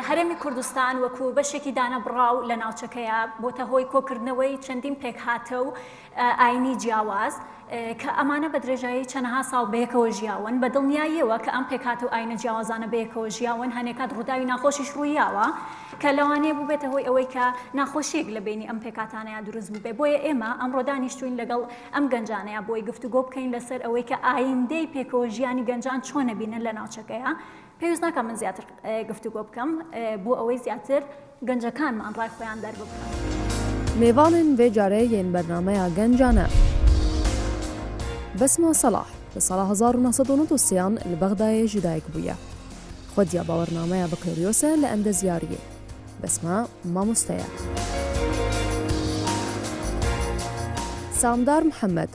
هەرێمی کوردستان وەکو بەشێکی دانەبڕاو لە ناوچەکەیە بۆتە هۆی کۆکردنەوەی چەندین پێکهاتە و ئایینی جیاواز، کە ئەمانە بە درێژایی چەنەها ساڵ بەیەکەوە ژیاون، بە دڵنیاییەوە کە ئەم پێکهاتە و ئایینە جیاوازانە بەیەکەوە ژیاون، هەنێکات ڕووداوی ناخۆشیش ڕوویاوە، کە لەوانەیە بووبێتە هۆی ئەوەی کە ناخۆشییەک لە بەینی ئەم پێکهاتانەیا دروست بووبێ. بۆیە ئێمە ئەمڕۆ دانیشتووین لەگەڵ ئەم گەنجانەیا بۆی گفتوگۆ بکەین لەسەر ئەوەی کە ئایندەی پێکەوەژیانی گەنجان چۆنە بینن لە ناوچەکەیا، پێویست ناکا من زیاتر گفتوگۆ بکەم بۆ ئەوەی زیاتر گەنجەکانمان ڕای خۆیان دەرببڕن. مێڤاڵن ڤێ جارێ یێن بەرنامەیا گەنجانە. بەسمە سەڵاح، لە ساڵا هەزار و نۆ سەد و نەد و سێان لە بەغدایێ ژی دایک بویە. خودیا باوەرنامەیا بەکلۆریۆسە لە ئەندەزیاریێ. بەسمە مامۆستەیە. سامدار محەمەد،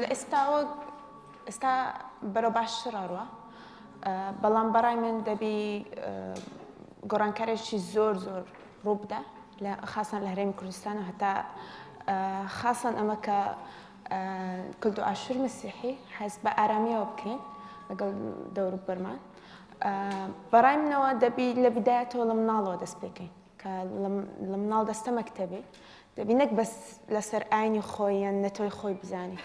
لە ئێستاوە ئێستا بەرەو باش ڕاڕوە بەڵام بەڕای من دەبی گۆڕانکارێکی زۆر زۆر ڕووبدا لە خاصان لە هەرێمی کوردستان و هەتا خاصان ئەمە کە کلدو ئاشور مسیحی حەز بە ئارامیەوە بکەین لەگەڵ دەور بەرمان بەڕای منەوە دەبی لە بدایەتەوە لە مناڵەوە دەست پێکەین کە لە مناڵ دەستە مەکتەبی دەبی نەک بەس لەسەر ئاینی خۆی یان نەتۆی خۆی بزانین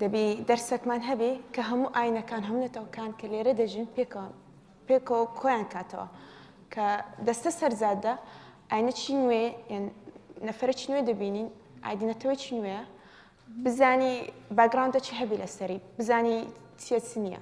دەبی دەرسەکمان هەبێ کە هەموو ئاینەکان هەم نەتەوەکان کە لێرە دەژین پێکەوە پێکەوە کۆیان کاتەوە کە دەستە سەرزادە ئاینە چی نوێ نەفرە چی نوێ دەبینین ئایدینەتەوە چی نوێە بزانی باگراندە چی هەبی لەسەری بزانی چیە چ نییە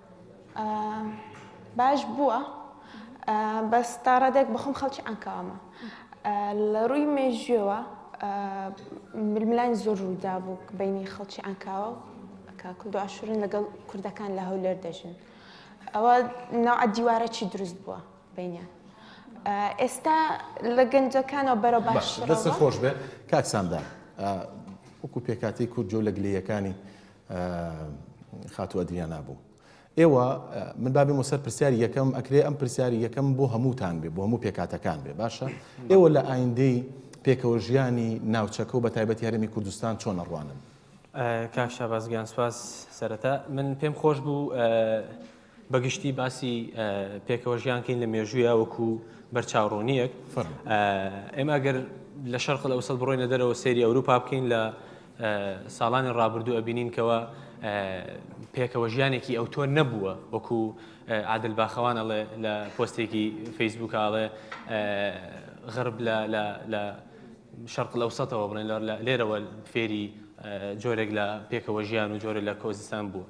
باش بووە بەس تا ڕادێک بەخۆم خەڵکی عەنکاوامە لە ڕووی مێژوێەوە ململانی زۆر ڕوودا بوو بینی خەڵکی عەنکاوە کاکل دواشورن لەگەڵ کوردەکان لە هەولێر دەژن ئەوە ناوعە دیوارە چی دروست بووە بینیان ئێستا لە گەنجەکانەوە بەرە باش دەست خۆش بێ کاکساندان وەکو پێکاتی کورد جۆ لە گلەیەکانی خاتوو ئەدریانا بوو. ئێوە من با بێمەوە سەر پرسیاری یەکەم، ئەکرێ ئەم پرسیاری یەکەم بۆ هەمووتان بێ، بۆ هەموو پێکهاتەکان بێ باشە؟ ئێوە لە ئایندەی پێکەوەژیانی ناوچەکە و بەتایبەتی هەرێمی کوردستان چۆن ئەڕوانن؟ کاک شاباز گیان سپاس، سەرەتا من پێم خۆش بوو بە گشتی باسی پێکەوە ژیان کەین لە مێژوویە وەکو بەرچاوڕوونیەک ئێمە گەر لە شەرق لە ئەوسەد بڕۆینە دەرەوە سێری ئەوروپا بکەین لە ساڵانی ڕابردوو ئەبینین کەەوە پێکەوە ژیانێکی ئەو تۆ نەبووە وەکو عادل باخەوان ئەڵێ لە پۆستێکی فەیسبوک ئاڵێ غرب لە شەرق لەو سەتەوە بڵێن لێرەوە فێری جۆرێک لە پێکەوە ژیان و جۆرە لە کۆزستان بوو.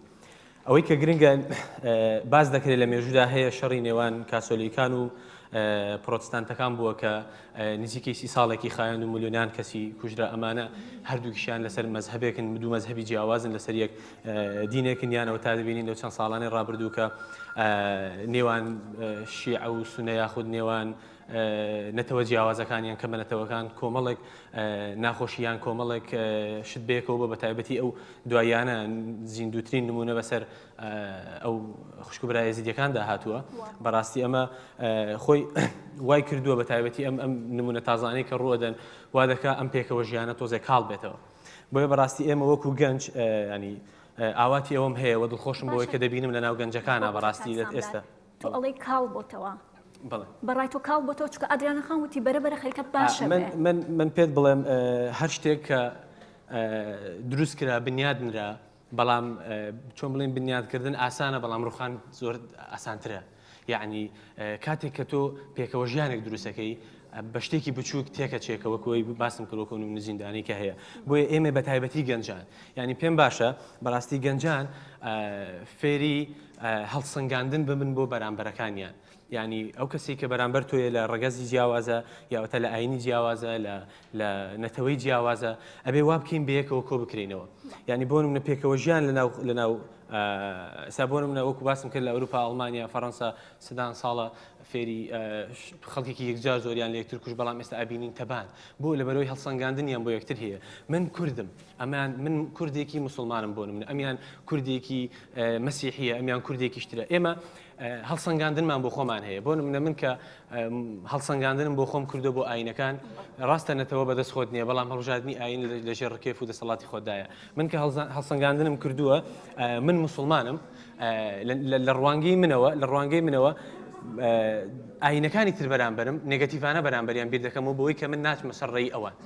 ئەوەی کە گرنگە باس دەکرێت لە مێژوودا هەیە شەڕی نێوان کاسۆلیکان و پرۆتستانتەکان بووە کە نزیکەی سی ساڵێکی خایەن و ملیۆنان کەسی کوژرا ئەمانە هەردووکیشیان لەسەر مەزهبێکن دوو مەزهبی جیاوازن لەسەر یەک دینێکن یانەوە تا دەبینین لەو چەند ساڵانی ڕابردووکە نێوان شیع و سونە یاخود نێوان نەتەوە جیاوازەکان یان کەمە نەتەوەکان کۆمەڵێک ناخۆشی یان کۆمەڵێک شت بەیەکەوە بە بەتایبەتی ئەو دواییانە زیندووترین نمونە بەسەر ئەو خوشک و برای زیدەکاندا هاتووە بەڕاستی ئەمە خۆی وای کردووە بە تایبەتی ئەم ئەم نمونە تازانەی کە ڕوەدەن وا دەکا ئەم پێکەوە ژیانە تۆزێک کاڵ بێتەوە بۆیە بەڕاستی ئێمە وەکو گەنج ینی ئاواتی ئەوم هەیە وە دڵخۆشم بۆی کە دەبینم لە ناو گەنجەکانە بەڕاستی لە ئێستا. تۆ ئەڵێی کاڵ بۆتەوە بەڕای تۆ کاڵ بۆتەوە چکە ئادریانە خان وتی بەرە بەرە خەریکە باشە من پێت بڵێم هەر شتێک کە دروست کرا بنیاد نرا بەڵام چۆن بڵێن بنیادکردن ئاسانە بەڵام ڕوخان زۆر ئاسانترە یعنی کاتێک کە تۆ پێکەوە ژیانێک دروستەکەی بە شتێکی بچووک تێکە چێکەوە کۆی باسم کردۆکەون و نزیندانی کە هەیە بۆیە ئێمە بە تایبەتی گەنجان یعنی پێم باشە بەڕاستی گەنجان فێری هەڵسەنگاندن ببن بۆ بەرامبەرەکانیان یانی ئەو کەسی کە بەرامبەر تۆیە لە ڕەگەزی جیاوازە یاوەتە لە ئاینی جیاوازە لە لە نەتەوەی جیاوازە ئەبێ وا بکەین بەیەکەوە کۆ بکرینەوە ینی بۆ منە پێکەوە ژیان لەناو لەناو سابۆن منە وەکو باسم کرد لە ئەوروپا ئەڵمانیا فەڕەنسا سدان ساڵە فێری خەڵکێکی یەکجار زۆریان لە یەکتر کوش بەڵام ئێستا ئابینین تەبان بۆ لە بەرەوەی هەڵسەنگاندنیان بۆ یەکتر هەیە من کوردم ئەمیان من کوردێکی موسڵمانم بۆ نمونە ئەمیان کوردێکی مەسیحیە ئەمیان کوردێکی شترە ئێمە هەڵسەنگاندنمان بۆ خۆمان هەیە بۆ نمونە من کە هەڵسەنگاندنم بۆ خۆم کردو بۆ ئاینەکان ڕاستە نەتەوە بەدەست خۆت نییە بەڵام هەڵژادنی ئاین لەژێر ڕکێف و دەسەڵاتی خۆدایە من کە هەڵسەنگاندنم کردووە من مسلمانم لە ڕوانگەی منەوە لە ڕوانگەی منەوە ئاینەکانی تر بەرامبرم نگەتیڤانە بەرامبەریان بیر دەکەمەوە بۆی کە من ناچمە سەر ڕێی ئەوان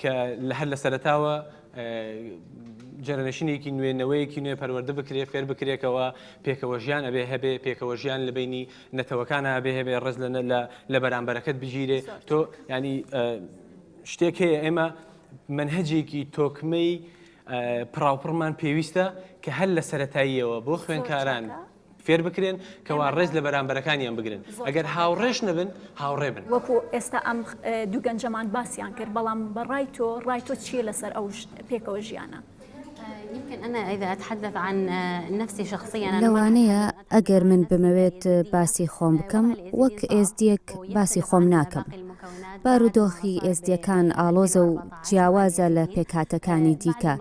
کە لە هەر لە سەرەتاوە جەرەنشینێکی نوێ نەوەیەکی نوێ پەروەەردە بکرێ فێر بکرێکەوە پێکەوە ژیان ئەبێ هەبێ پێکەوە ژیان لە بینی نەتەوەکان ئەبێ هەبێ ڕز لە لە بەرامبەرەکەت بگیرێ تۆ ینی شتێک هەیە ئێمە منهجێکی تۆکمەی پراوپڕمان پێویستە کە هەر لە سەتاییەوە بۆ خوێنکاران فێر بکرێن کەوا ڕێز لە بەرامبەرەکانیان بگرن ئەگەر هاوڕێش نەبن هاوڕێ بن. وەکو ئێستا ئەم دوو گەنجەمان باسیان کرد بەڵام بە ڕای تۆ ڕای تۆ چییە لەسەر ئەو پێکەوە ژیانە؟ لەوانەیە ئەگەر من بمەوێت باسی خۆم بکەم وەک ئێزدیەک باسی خۆم ناکەم بارودۆخی ئێزدیەکان ئاڵۆزە و جیاوازە لە پێکهاتەکانی دیکە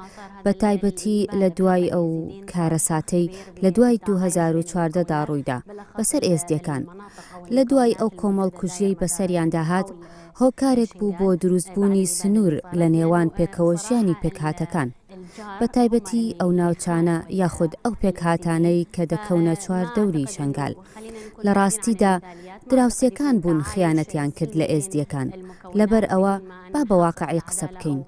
بە تایبەتی لە دوای ئەو کارەساتەی لە دوای دوو هەزار و چواردە دا ڕوویدا بەسەر ئێزدیەکان لە دوای ئەو کۆمەڵکوژیەی بەسەریاندا هات هۆکارێک بوو بۆ دروست بوونی سنوور لە نێوان پێکەوەژیانی پێکهاتەکان بە تایبەتی ئەو ناوچانە یاخود ئەو پێکهاتانەی کە دەکەونە چوار دەوری شەنگال لە ڕاستیدا دراوسێکان بوون خیانەتیان کرد لە ئێزدیەکان لەبەر ئەوە با بە واقعی قسە بکەین.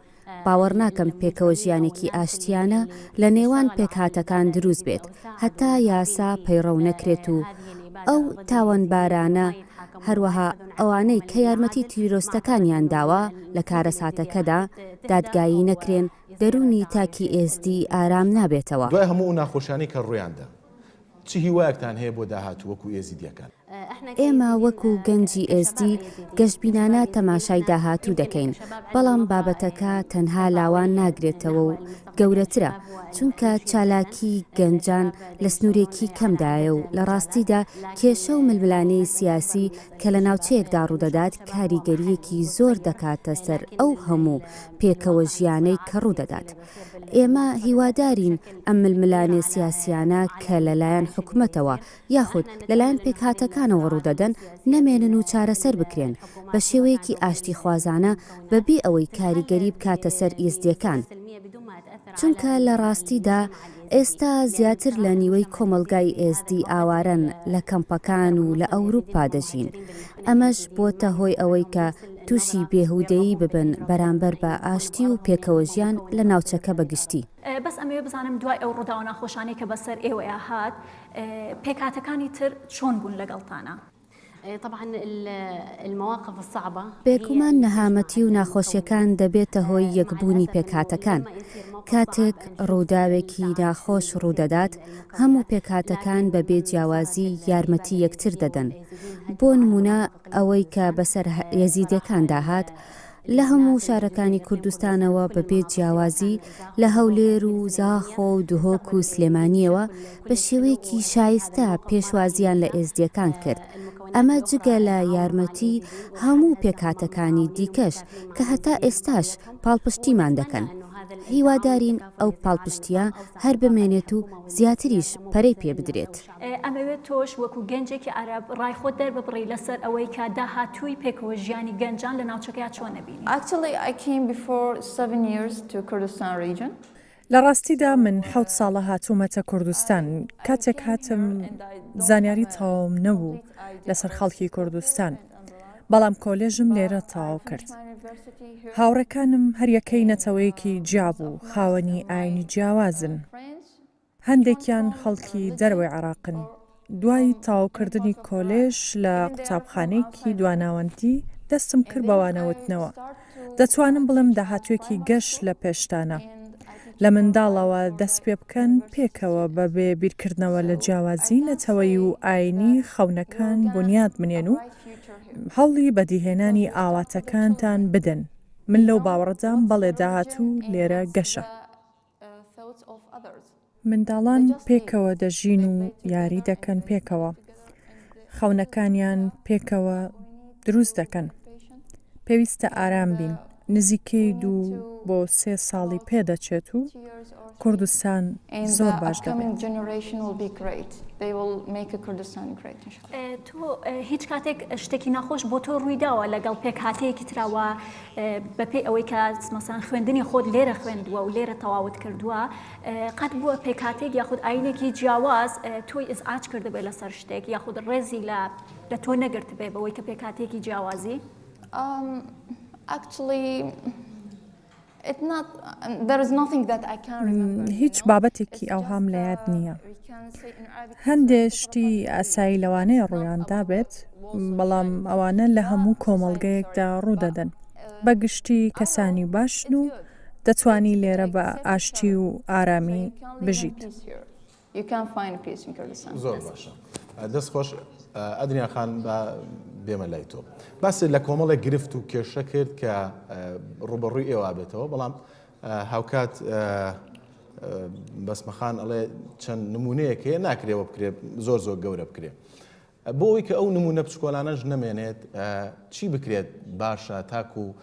باوەڕ ناکەم پێکەوە ژیانێکی ئاشتیانە لە نێوان پێکهاتەکان دروست بێت هەتا یاسا پەیڕەو نەکرێت و ئەو تاوانبارانە هەروەها ئەوانەی کە یارمەتی تیرۆستەکانیان داوە لە کارەساتەکەدا دادگایی نەکرێن دەروونی تاکی ئێزدی ئارام نابێتەوە. دوای هەموو ئەو ناخۆشیانەی کە ڕوویان دا، چ هیوایەکتان هەیە بۆ داهاتوو وەکو ئێزیدییەکان؟ ئێمە وەکو گەنجی ئێزدی گەشبینانە تەماشای داهاتوو دەکەین، بەڵام بابەتەکە تەنها لاوان ناگرێتەوە و گەورەترە، چونکە چالاکیی گەنجان لە سنوورێکی کەمدایە و لە ڕاستیدا کێشە و ململانێی سیاسی کە لە ناوچەیەکدا ڕوودەدات کاریگەرییەکی زۆر دەکاتە سەر ئەو هەموو پێکەوەژیانەی کە ڕوودەدات. ئێمە هیوادارین ئەم ململانێ سیاسییانە کە لەلایەن حکومەتەوە یاخود لەلایەن پێکهاتەکانەوە ڕوودەدەن نەمێنن و چارەسەر بکرێن بە شێوەیەکی ئاشتیخوازانە بەبێ ئەوەی کاریگەری بکاتە سەر ئیزدییەکان، چونکە لە ڕاستیدا ئێستا زیاتر لە نیوەی کۆمەڵگای ئێزدی ئاوارەن لە کەمپەکان و لە ئەوروپا دەژین، ئەمەش بۆتە هۆی ئەوەی کە. تووشی بێهودەیی ببن بەرامبەر بە ئاشتی و پێکەوەژیان لە ناوچەکە بە گشتی. بەس ئەمەوێ بزانم دوای ئەو ڕووداوە ناخۆشانەی کە بەسەر ئێوەیا هات پێکهاتەکانی تر چۆن بوون لەگەڵتانا؟ طبعا المواقف الصعبة بێگومان نەهامەتی و ناخۆشیەکان دەبێتە هۆی یەک بوونی پێکهاتەکان کاتێک ڕووداوێکی ناخۆش ڕوودەدات هەموو پێکهاتەکان بە بێ جیاوازی یارمەتی یەکتر دەدەن بۆ نمونە ئەوەی کە بەسەر یەزیدیەکاندا هات لە هەموو شارەکانی کوردستانەوە بە بێ جیاوازی لە هەولێر و زاخۆ و دهۆک و سلێمانیەوە بە شێوەیەکی شایستە پێشوازیان لە ئێزدیەکان کرد ئەمە جگە لە یارمەتی هەموو پێکهاتەکانی دیکەش کە هەتا ئێستاش پاڵپشتیمان دەکەن هیوادارین ئەو پاڵپشتیە هەر بمێنێت و زیاتریش پەرەی پێ بدرێت. ئەمەوێت تۆش وەکو گەنجێکی عەرەب ڕای خۆت دەرببڕی لەسەر ئەوەی کە داهاتووی پێکەوە ژیانی گەنجان لە ناوچەکەیا چۆن ئەبینی؟ Actually I came before seven years to Kurdistan region. لە ڕاستیدا من حەوت ساڵە هاتوومەتە کوردستان، کاتێک هاتم زانیاری تەواوم نەبوو لەسەر خەڵکی کوردستان، بەڵام کۆلێژم لێرە تەواو کرد. هاوڕێکانم هەریەکەی نەتەوەیەکی جیابوو، خاوەنی ئاینی جیاوازن. هەندێکیان خەڵکی دەرەوەی عێراقن. دوای تەواوکردنی کۆلێژ لە قوتابخانەیەکی دواناوەندی، دەستم کرد بە وانەوتنەوە. دەتوانم بڵێم داهاتووێکی گەش لە پێشتانە. لە منداڵەوە دەست پێ بکەن، پێکەوە بەبێ بیرکردنەوە لە جیاوازیی نەتەوەیی و ئایینی خەونەکان بونیاد بنێن و هەوڵی بەدیهێنانی ئاواتەکانتان بدەن. من لەو باوەڕەدام بەڵێ داهاتوو لێرە گەشە. منداڵان پێکەوە دەژین و یاری دەکەن پێکەوە خەونەکانیان پێکەوە دروست دەکەن پێویستە ئارام بین نزیکەی دوو بۆ سێ ساڵی پێدەچێت و کوردستان زۆر باش دەبێت. تۆ هیچ کاتێک شتێکی ناخۆش بۆ تۆ ڕوویداوە لەگەڵ پێکهاتەیەکی تراوە بەپی ئەوەی کە سمەسان خوێندنی خۆت لێرە خوێندووە و لێرە تەواوت کردووە قەت بووە پێکاتێک یاخود ئاینێکی جیاواز تۆی ئز ئاچ کردبێ لەسەر شتێک یاخود ڕێزی لە لە تۆ نەگرت بێ بەوەی کە پێکاتێکی جیاوازی ئاکچڵی هیچ بابەتێکی ئەوهام لە یاد نییە. هەندێ شتی ئاسایی لەوانەیە ڕوویاندا بێت، بەڵام ئەوانە لە هەموو کۆمەڵگەیەکدا ڕوودەدەن. بە گشتی کەسانی باشن و دەتوانی لێرە بە ئاشتی و ئارامی بژیت. You can find peace in Kurdistan. زۆر باشە دەست خۆش ئەدنیا خان بە بێمە لای تۆ باسی لە کۆمەڵێک گرفت و کێشە کرد کە ڕوبەڕووی ئێوە بێتەوە بەڵام هاوکات بەسمەخان ئەڵێ چەند نمونەیەک هەیە ناکرێەوە بکرێت زۆر زۆر گەورە بکرێت بۆ ئەوەی کە ئەو نموونە بچکۆلانەش نەمێنێت چی بکرێت باشە تاکوو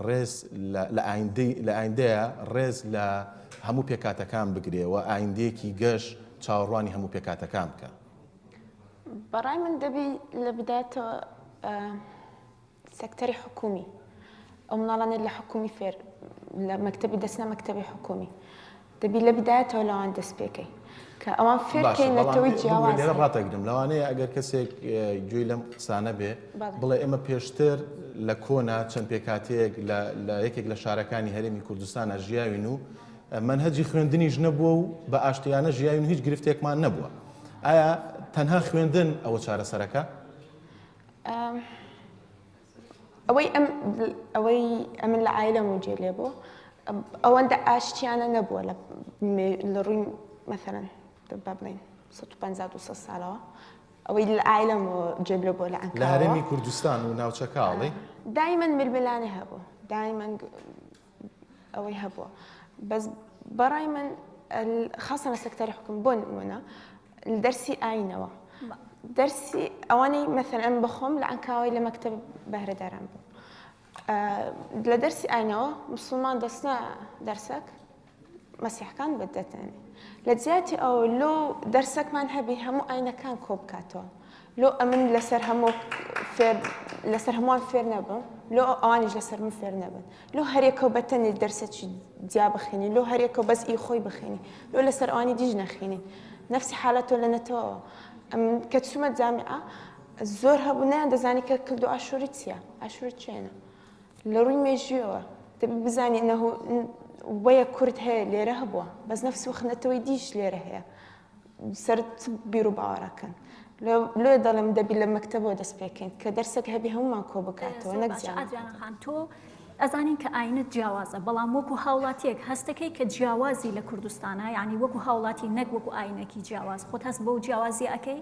ڕێز لە ئایندەیە ڕێز لە هەموو پێکاتەکان بگرێ و ئایندەیەکی گەش چاوەڕوانی هەموو پێکاتەکان بکە؟ بەڕای من دەبی لە بدایەتەوە سکتەری حکومی، ئەو مناڵانەی لە حکومی فێر لە مەکتەبی دەچنە مەکتەبی حکومی دەبی لە بدایەتەوە لەوان دەست پێ کەی کە ئەوان فێر بکەی نەتەوەی جیاواز هەیە. باشە بەڵام لێرە ڕاتەگرم لەوانەیە ئەگەر کەسێک گوێی لەم قسانە بێ بڵێ ئێمە پێشتر لە کۆنا چەند پێکاتەیەک لە یەکێک لە شارەکانی هەرێمی کوردستانە ژیاوین و مەنهەجی خوێندنیش نەبووە و بە ئاشتیانە ژیاوین هیچ گرفتێکمان نەبووە. ئایا تەنها خوێندن ئەوە چارەسەرەکە؟ ئەوەی ئەم ئەوەی ئەمن لە ئایلە موجێ لێ بۆ ئەوەندە ئاشتیانە نەبووە لە ڕووی مەسەرەن با بڵین 150 ساڵەوە ئەوەی لە ئایلم و جێب لە بۆ لە ئەنکارەوە لە هەرێمی کوردستان و ناوچەکاڵی دایمەن ململانێ هەبوو دایمەن ئەوەی هەبووە بەس بەڕای من خاصە لە سەکتەری حکوم بۆ نمونە دەرسی ئاینەوە دەرسی ئەوانەی مەثل ئەم بخۆم لە ئەنکاوەی لە مەکتب بەهرەداران بوو لە دەرسی ئاینەوە مسلمان دەستە دەرسەک مەسیحکان بت دەتەنێ لە جیاتی ئەو لۆ دەرسەکمان هەبی هەموو ئاینەکان کۆ بکاتەوە لۆ ئەمن لەسەر هەموو فێر لەسەر هەمووان فێر نەبم لۆ ئەوانیش لەسەر من فێر نەبن لۆ هەرێکەوە بەتەنی دەرسەکی جیا بخێنی لۆ هەرێکەوە بەس ئی خۆی بخێنی لۆ لەسەر ئەوانی دیژ نەخێنی نفسی حالەتۆ لە نەتەوەەوە کە چومە جامعە زۆر هەبوو نیان دەزانی کە کردو ئاشووری چییە ئاشووری چێنە لە ڕووی مێژویەوە دەبێ بزانین نە هو وەیە کورد هەیە لێرە هەبووە بەس نەفس و خنەتەوەی دیش لێرە هەیە سرت بیر و باوەڕەکەن لێ دەڵێم دەبی لە مەکتتەبەوە دەست پێکەین کە دەرسێک هەبی هەمومان کۆ بکاتەوە نەکجیانخان تۆ ئەزانین کە ئاینە جیاوازە بەڵام وەکو هاوڵاتیەک هەستەکەی کە جیاوازی لە کوردستانە ینی وەکو هاوڵاتی نەک وەکو ئاینەکی جیاواز خۆت هەست بەو جیاوازی ئەەکەی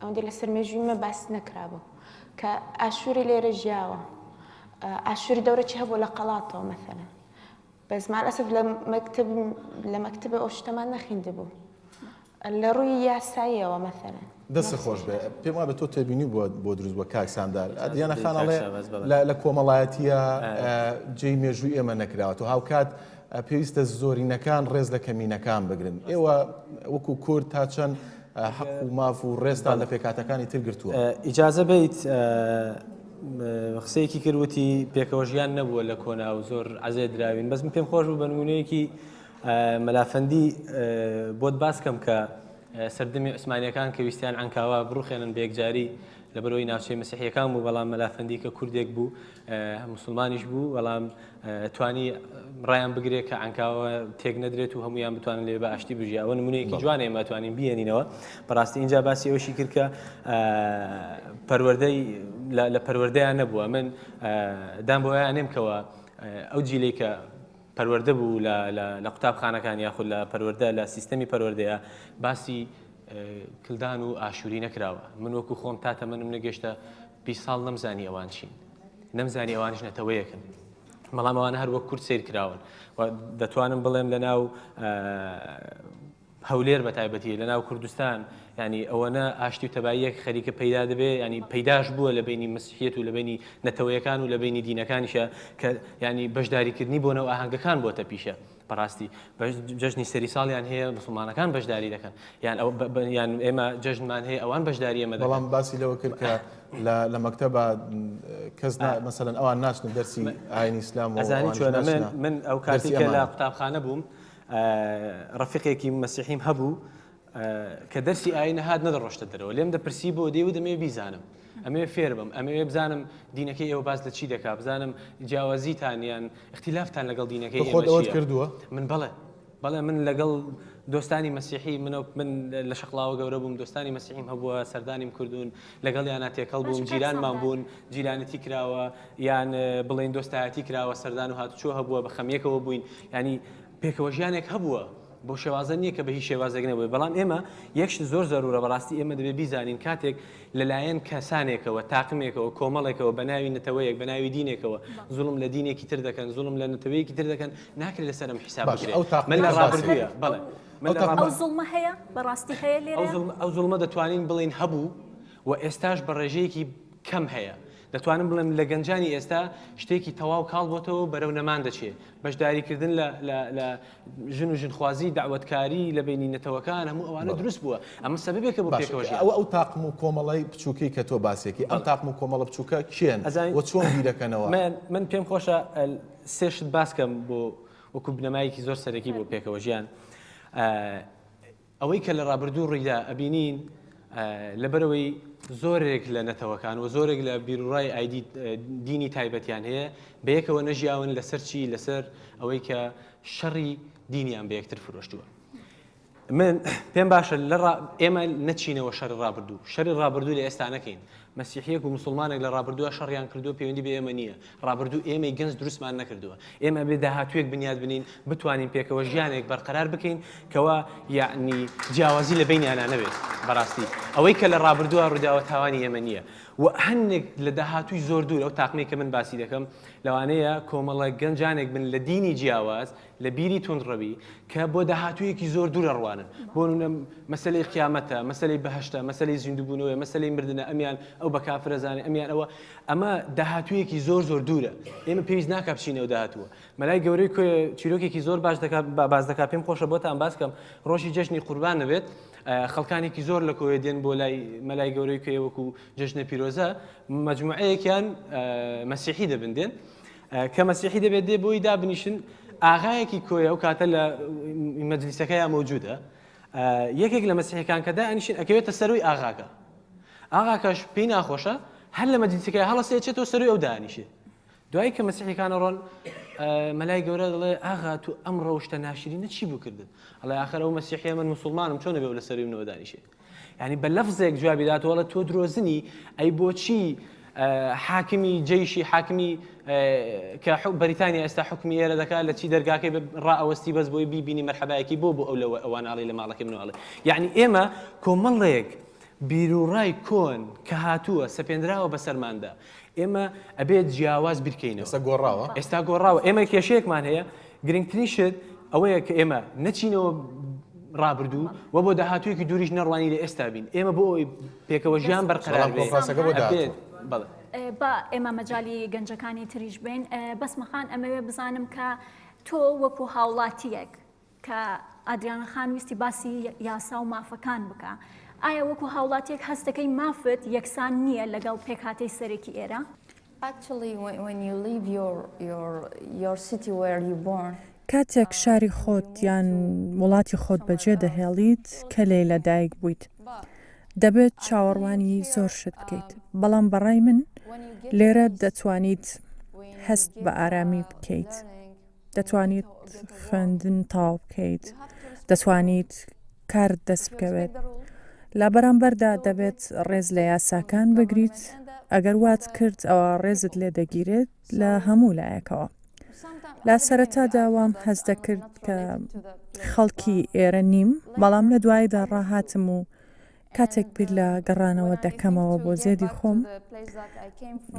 ئەوەندە لەسەر مێژووی مە باس نەکرابوو کە ئاشووری لێرە ژیاوە ئاشووری دەورەی هەبوو لە قەڵاتەوە مەثەن بەس مالەسف لە مەکتب لە مەکتب ئەو شتەمان نەخیندبوو لە ڕووی یاساییەوە مەثەن دەست خۆش بێ پێم وابێت تۆ تێبینی بۆ بۆ دروست بە کاک ساندار دیانە خانەڵێ لە کۆمەڵایەتیە جێی مێژووی ئێمە نەکراوە تۆ هاوکات پێویستە زۆرینەکان ڕێز لە کەمینەکان بگرن ئێوە وەکو کورد تا چەند حەق و ماف و ڕێزتان لە پێکهاتەکانی تر گرتووە. ئیجازە بەیت قسەیەکی کرد وتی پێکەوە ژیان نەبووە لە کۆنا و زۆر عەزێت دراوین بەس من پێم خۆش بوو بە نموونەیەکی مەلا فەندی بۆت باس کەم کە سەردەمی عوسمانیەکان کە ویستیان عەنکاوا بڕوخێنن بە یەکجاری لەبەرئەوەی ناوچەی مەسیحیەکان بوو بەڵام مەلا فەندی کە کوردێک بوو موسڵمانیش بوو، بەڵام توانی ڕایان بگرێت کە عەنکاوە تێک نەدرێت و هەمویان بتوانن لێ بە ئاشتی بژی ئەوە نمونەیەکی جوان ئێمە توانین بێنینەوە بەڕاستی اینجا باسی ئەوشی کرد کە پەروەردەی لە پەروەردەیان نەبووە من دام بۆیان نێم کەەوە ئەو جیلی کە پەروەەردە بوو لە قوتابخانەکان یاخود لە پەروەەردە لە سیستەمی پەروەەردەیە باسی کلدان و ئاشووری نەکراوە من وەکو خۆم تا تەمەنم نەگەشتە بیست ساڵ نەمزانی ئەوان چین، نەمزانی ئەوانیش نەتەوەیەکن. بەڵام ئەوانە هەر وەک کورد سیر کراون و دەتوانم بڵێم لە ناو هەولێر بە تایبەتی لە ناو کوردستان ینی ئەوەنە ئاشتی و تەباییەک خەریکە پەیدا دەبێ ینی پەیداش بووە لە بینی مسیحەت و لە بینی نەتەوەیەکان و لە بینی دینەکانیشە کە ینی بەشداریکردنی بۆ نەو ئاهنگەکان بۆتە پیشە بەڕاستی جەژنی سەری ساڵیان هەیە مسوڵمانەکان بەشداری دەکەن یان ئەو یان ئێمە جەژنمان هەیە ئەوان بەشداری ئێمە دەکەن. بەڵام باسی لەوە کرد کە لە مەکتەبا کەس مەسەلەن ئەوان ناچنە دەرسی ئاینی ئیسلام و ئەوانیش ناچنە. ئەزانی چۆنە من من ئەو کاتی کە لە قوتابخانە بووم ڕەفیقێکی مەسیحیم هەبوو، کە دەرسی ئایین ئەهات نەدەڕۆشتە دەرەوە، لێم دەپرسی بۆ؟ دەیوت ئەمەوێ بیزانم، ئەمەوێ فێر بم، ئەمەوێ بزانم دینەکەی ئێوە باس لە چی دەکا، بزانم جیاوازیتان یان ئیختیلافتان لەگەڵ دینەکەی ئێمە چییە؟ تۆ خۆت ئەوەت کردووە؟ من بەڵێ، بەڵێ من لەگەڵ دۆستانی مەسیحی، من لە شەقڵاوە گەورە بووم، دۆستانی مەسیحیم هەبووە، سەردانیم کردوون، لەگەڵیانا تێکەڵ بووم، جیرانمان بوون، جیرانەتی کراوە، یان بڵێین دۆستایەتی کراوە، سەردان و هاتوچۆ هەبووە، بە خەمییەکەوە بووین، یانی پێکەوەژیانێک هەبووە بۆ شێوازە نیە کە بە هیچ شێوازێک نەبێت بەڵام ئێمە یەک شت زۆر زەرورە بەڕاستی ئێمە دەبێت بیزانین کاتێک لەلایەن کەسانێکەوە تاقمێکەوە کۆمەڵێکەوە بە ناوی نەتەوەیەک بە ناوی دینێکەوە زوڵم لە دینێکی تر دەکەن زوڵم لە نەتەوەیەکی تر دەکەن ناکرێت لەسەر ئەم حیساب باش بکرێت ئەو تاقمە من لە باسی ڕابردووە بکەین. بەڵێ من ئەو لە تاقمە- ڕابردووە- ئەو زوڵمە هەیە بەڕاستی هەیە ئەو لێرەیا زوڵمە ئەو زوڵمە دەتوانین بڵێین هەبوو و ئێستاش بە ڕێژەیەکی کەم هەیە دەتوانم بڵێم لە گەنجانی ئێستا شتێکی تەواو کاڵ بۆتەوە بەرەو نەمان دەچێ بەشداریکردن لە لە لە ژن و ژنخوازی، دەعوەتکاری لە بەینی نەتەوەکان، هەموو ئەوانە دروست بووە. ئەمە سەبەبێکە بۆ پێکەوە ژیان. باشە ئەوە ئەو تاقم و کۆمەڵەی بچووکەی کە تۆ باسیەکەی، ئەم تاقم و کۆمەڵە بچووکە کێن و چۆن بیرەکەنەوە؟ من پێم خۆشە سێ شت باسکەم بۆ وەکو بنەمایەکی زۆر سەرەکی بۆ پێکەوە ژیان. ئەوەی کە لە ڕابردوو ڕوویدا ئەبینین لەبەرئەوەی زۆرێک لە نەتەوەکان و زۆرێک لە بیروڕای ئایدی دینی تایبەتیان هەیە بەیەکەوە نەژیاون لەسەر چی لەسەر ئەوەی کە شەڕی دینیان بە یەکتر فرۆشتووە من پێم باشە لە ئێمە نەچینەوە شەر ڕابردوو شەری ڕابردوو لە ئێستا نەکەین مەسیحییەک و موسڵمانێک لە ڕابردوودا شەڕیان کردووە، پەیوەندی بە ئێمە نییە. ڕابردوو ئێمەی گەنج دروستمان نەکردووە. ئێمە ئەبێ داهاتوویەک بنیات بنێین، بتوانین پێکەوە ژیانێک بەرقەرار بکەین کەوا یەعنی جیاوازی لە بەینیانا نەبێت. بەڕاستی ئەوەی کە لە ڕابردوودا ڕووداوە تاوانی ئێمە نییە و هەندێک لە داهاتووی زۆر دوور ئەو تاقمەی کە من باسی دەکەم لەوانەیە کۆمەڵە گەنجانێک بن لە دینی جیاواز لە بیری توندڕەوی کە بۆ داهاتوویەکی زۆر دوورە ڕوانن بۆ نونە مەسلەی قیامەتە مەسلەی بەهشتا مەسلەی زیندوبوونەوەی مەسلەی مردە ئەمیان ئەو بە کافرەزانانی ئەمیان ئەوە ئەمە داهاتوویەکی زۆر زۆر دوورە ئێمە پێویست ناکە بچینەوە داهاتووە مەلای گەورەی کوێ چیرۆکێکی زۆر باش دەکات باز دەکات پێم خۆشە بۆتان باسکەم ڕۆژی جەژنی قوربان نەبێت خەڵکانێکی زۆر لە کۆێ دێن بۆ لای مەلای گەورەی کوێ وەکو جەژنە پیرۆزە مجموعەیەکیان مەسیحی دەبندێن کە مەسیحی دەبێت دێ بۆی دابنیشن ئاغایەکی کۆی ئەو کاتە لە مەجلیسەکەیان مەوجودە یەکێک لە مەسیحەکان کە دانیشن ئەکەوێتە سەروی ئاغاکە ئاغاکەش پێی ناخۆشە هەر لە مەجلیسەکەی هەڵسێچێتەوە سەروی ئەو دانیشێت دوای کە مەسیحەکانە ڕۆن مەلای گەورە دەڵێ ئاغا تو ئەم ڕەوشتە ناشرینە چی بکردن ئەڵێ آخر ئەو مەسیحە من مسلمانم چۆن نەبێ لە سەروی منەوە دانیشێت یانی بە لەفزێک جوابی دات وەڵە تۆ درۆزنی ئەی بۆچی حاکمی جیشی حاکمی کە بەریتانیا ئێستا حکومی ئێرە دەکات لە چی دەرگاکەی ڕئەوەستی بەس بۆی بیبینی مەرحەبایەکی بۆ بۆ ئەو لەوە ئەوانناڵی لە ماڵەکەی منواڵێ یعنی ئێمە کۆمەڵێک بیرروڕای کۆن کە هاتووە سەپێنراوە بەسەرماندا ئێمە ئەبێت جیاواز بیرکەینەوە. ئێستا گۆڕاوە. ئێستا گۆڕاوە. ئێمە کێشەیەکمان هەیە، گرنگترین شت ئەوەیە کە ئێمە نەچینەوە ڕابردوو و بۆ داهاتوویەکی دووریش نەڕوانین لە ئێستا بین. ئێمە بۆ ئەوەی پێکەوە ژیان بەرقەرار بێت، ئەبێت. بەڵێ. با ئێمە مەجالی گەنجەکانی تریش بەین. بەسمە خان ئەمەوێ بزانم کە تۆ وەکوو هاوڵاتییەک کە ئادریانا خان ویستی باسی یاسا و مافەکان بکا. ئایا وەکو هاوڵاتیەک هەست دەکەی مافت یەکسان نییە لەگەڵ پێکهاتەی سەرەکی ئێرە؟ کاتێک شاری خۆت یان وڵاتی خۆت بەجێ دەهێڵیت کە لێی لە دایک بوویت، دەبێت چاوەڕوانی زۆر شت بکەیت. بەڵام بە ڕای من لێرە دەتوانیت هەست بە ئارامی بکەیت. دەتوانیت خوێندن تاو بکەیت دەتوانیت کارت دەست بکەوێت لە بەرامبەردا دەبێت ڕێز لە یاساکان بگریت ئەگەر وات کرد ئەوە ڕێزت لێ دەگیرێت لە هەموو لایەکەوە لا سەرەتا داوام هەز دەکرد کە خەڵکی ئێرە نیم بەڵام لە دوایدا ڕاهاتم و کاتێک بیر لە گەڕانەوە دەکەمەوە بۆ زێدی خۆم،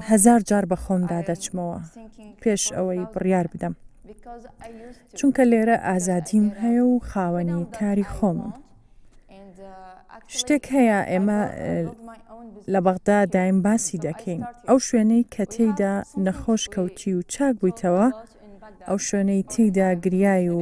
هەزار جار بە خۆمدا دەچمەوە پێش ئەوەی بڕیار بدەم. چونکە لێرە ئازادیم هەیە و خاوەنی کاری خۆمم. شتێک هەیە ئێمە لە بەغدا دایم باسی دەکەین ئەو شوێنەی کە تێیدا نەخۆش کەوتی و چاک بوویتەوە ئەو شوێنەی تێیدا گریای و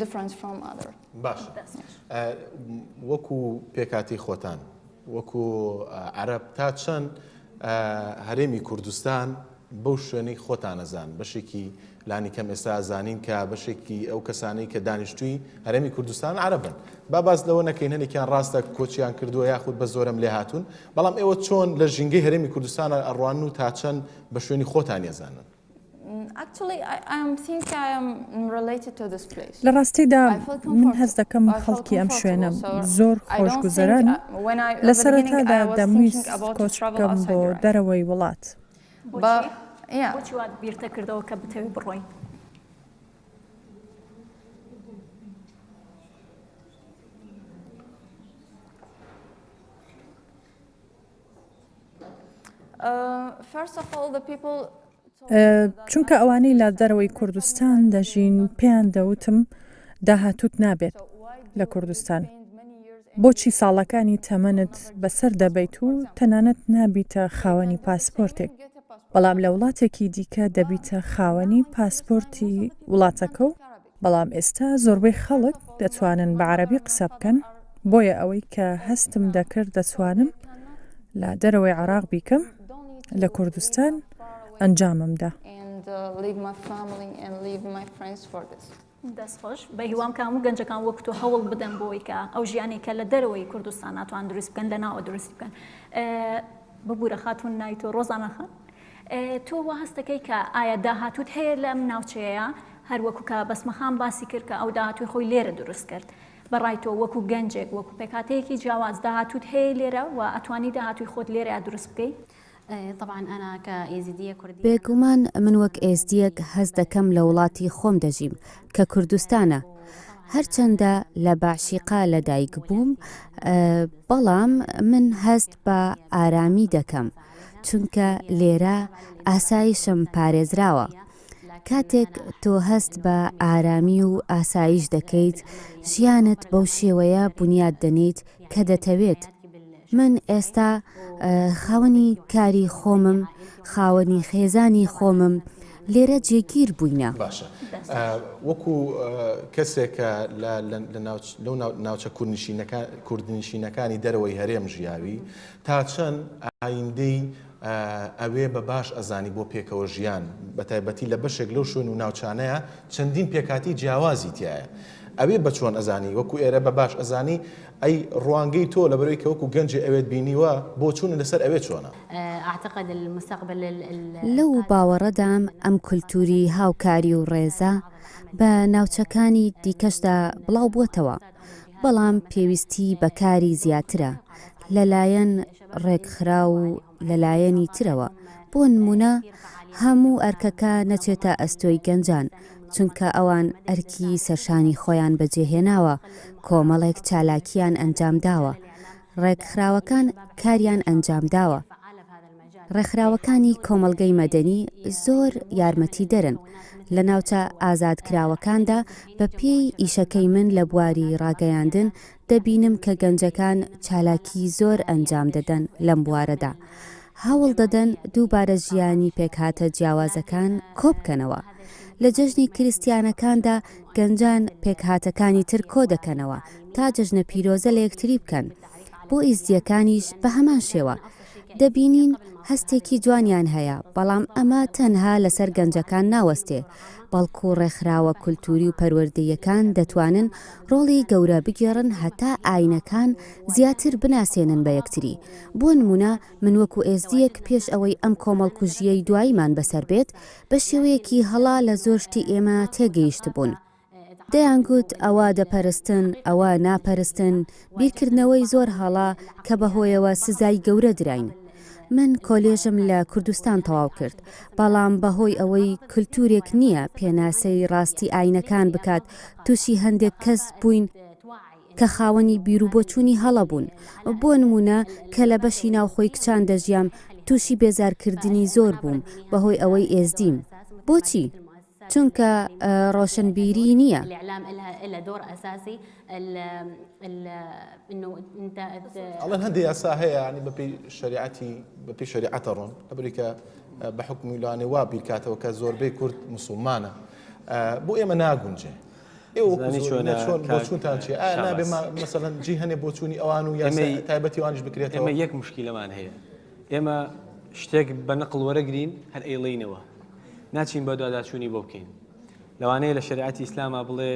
different from other. باشە دەست خۆش. ئە، وەکو پێکهاتەی خۆتان، وەکو ئە، عەرەب تا چەند ئە، هەرێمی کوردستان بەو شوێنەی خۆتان ئەزان، بەشێکی لانیکەم ئێستا ئەزانین کە بەشێکی ئەو کەسانەی کە دانیشتووی هەرێمی کوردستان عەرەبن، با باس لەوە نەکەین هەنێکیان ڕاستە کۆچیان کردووە یاخود بە زۆرەمل لێ هاتوون، بەڵام ئێوە چۆن لە ژینگەی هەرێمی کوردستان ئەڕوانن و تا چەند بە شوێنی خۆتانی ئەزانن؟ لە ڕاستیدا من هەست دەکەم خەڵکی ئەم شوێنە زۆر خۆشگوزەرانن، لە سەرەتادا دەمویست کۆچ بکەم بۆ دەرەوەی وڵات. بۆچی وات بیردەکردەوە کە بتەوێت بڕۆیت؟ چونکە ئەوانەی لە دەرەوەی کوردستان دەژین پێیان دەوتم داهاتوت نابێت لە کوردستان بۆچی ساڵەکانی تەمەنت بەسەر دەبیت و تەنانەت نابیتە خاوەنی پاسپۆرتێک بەڵام لە وڵاتێکی دیکە دەبیتە خاوەنی پاسپۆرتی وڵاتەکە و بەڵام ئێستا زۆربەی خەڵک دەتوانن بە عەرەبی قسە بکەن، بۆیە ئەوەی کە هەستم دەکرد دەتوانم لە دەرەوەی عێراق بیکەم، لە کوردستان ئەنجامم دا. دەستخۆش، بەهیوام کە هەموو گەنجەکان وەک تۆ هەوڵ بدەن بۆ ئەوەی کە ئەو ژیانەی کە لە دەرەوەی کوردستان ناتوان دروست بکەن، لەناوە دروستی بکەن. ببورە خاتوون ناوی تۆ ڕۆزانا خان؟ تۆ وا هەست دەکەی کە ئایا داهاتووت هەیە لەم ناوچەیە هەر وەکو کە بەسمەخان باسی کرد کە ئەو داهاتووی خۆی لێرە دروست کرد بە ڕای تۆ وەکو گەنجێک وەکو پێکهاتەیەکی جیاواز داهاتووت هەیە لێرە و ئەتوانی داهاتووی خۆت لێرە دروست بکەی؟ بێگومان من وەک ئێزدییەک هەست دەکەم لە وڵاتی خۆم دەژیم کە کوردستانە هەرچەندە لە بەعشیقا لەدایکبووم بەڵام من هەست بە ئارامی دەکەم. چونکە لێرە ئاسایشم پارێزراوە. کاتێک تۆ هەست بە ئارامی و ئاسایش دەکەیت، ژیانت بەو شێوەیە بونیاد دەنێیت کە دەتەوێت. من ئێستا خاوەنی کاری خۆمم، خاوەنی خێزانی خۆمم، لێرە جێگیر بووینە. باشە. وەکو کەسێک کە لە لە ناوچ لەو ناوچە کوردنشینەکان کوردنشینەکانی دەرەوەی هەرێم ژیاوی، تاچەن ئایندەی ئەوێ بە باش ئەزانی بۆ پێکەوە ژیان، بەتایبەتی لە بەشێک لەو شوێن و ناوچانەیا چەندین پێکهاتەی جیاوازی تیایە، ئەوێ بە چۆن ئەزانی وەکو ئێرە بە باش ئەزانی، ئەی ڕوانگەی تۆ لەبەر ئەوی کە وەکو گەنجێ ئەوێت بینیوە، بۆچوونت لەسەر ئەوێ چۆنە؟ لەو باوەڕەدام ئەم کولتووری هاوکاری و ڕێزە بە ناوچەکانی دیکەشدا بڵاو بووەتەوە، بەڵام پێویستی بە کاری زیاترە لەلایەن ڕێکخراو و لەلایەنی ترەوە، بۆ نموونە هەموو ئەرکەکە نەچێتە ئەستۆی گەنجان، چونکە ئەوان ئەرکی سەرشانی خۆیان بەجێهێناوە، کۆمەڵێک چالاکییان ئەنجامداوە، ڕێکخراوەکان کاریان ئەنجامداوە. ڕێکخراوەکانی کۆمەڵگەی مەدەنی زۆر یارمەتیدەرن لە ناوچە ئازادکراوەکاندا، بە پێی ئیشەکەی من لە بواری ڕاگەیاندن دەبینم کە گەنجەکان چالاکی زۆر ئەنجام دەدەن لەم بوارەدا، هەوڵ دەدەن دووبارە ژیانی پێکهاتە جیاوازەکان کۆبکەنەوە، لە جەژنی کریستیانەکاندا گەنجان پێکهاتەکانی تر کۆدەکەنەوە تا جەژنە پیرۆزە لە یەکتری بکەن، بۆ ئیزدییەکانیش بە هەمان شێوە. دەبینین هەستێکی جوانیان هەیە، بەڵام ئەمە تەنها لەسەر گەنجەکان ناوەستێ، بەڵکو ڕێکخراوە کولتووری و پەروەردەییەکان دەتوانن ڕۆڵی گەورە بگێڕن هەتا ئایینەکان زیاتر بناسێنن بە یەکتری، بۆ نموونە من وەکو ئێزدییەک پێش ئەوەی ئەم کۆمەڵکوژییەی دواییمان بەسەر بێت، بە شێوەیەکی هەڵە لە زۆر شتی ئێمە تێگەیشتبوون. دەیانگوت ئەوە دەپەرستن، ئەوە ناپەرستن، بیرکردنەوەی زۆر هەڵە کە بەهۆیەوە سزای گەورە دراین. من کۆلێژم لە کوردستان تەواو کرد، بەڵام بەهۆی ئەوەی کلتورێک نییە پێناسەی ڕاستی ئاینەکان بکات، تووشی هەندێک کەس بووین کە خاوەنی بیروبۆچوونی هەڵە بوون. بۆ نموونە کە لە بەشی ناوخۆی کچان دەژیام، تووشی بێزارکردنی زۆر بووم بەهۆی ئەوەی ئێزدیم. بۆچی؟ چونکە ڕۆشنبیری نییە. ئەڵێن هەندێ یاسا هەیە یانی بە پێی شەریعەتی بە پێی شەریعەت ئەڕۆن لەبری کە بە حوکمی لانی وا بیر کاتەوە کە زۆربەی کورد موسوڵمانە بۆ ئێمە ناگونجێ مەسەلەن جی هەنێ بۆچوونی ئەوان و یاسای تایبەتی وانیش بکرێتەوە یەک مشکیلەمان هەیە ئێمە شتێک بە نقل وەرەگرین هەر ئەیڵێینەوە ناچین بە دواداچوونی بۆ بکەین لەوانەیە لە شریعەتی ئیسلاما بڵێ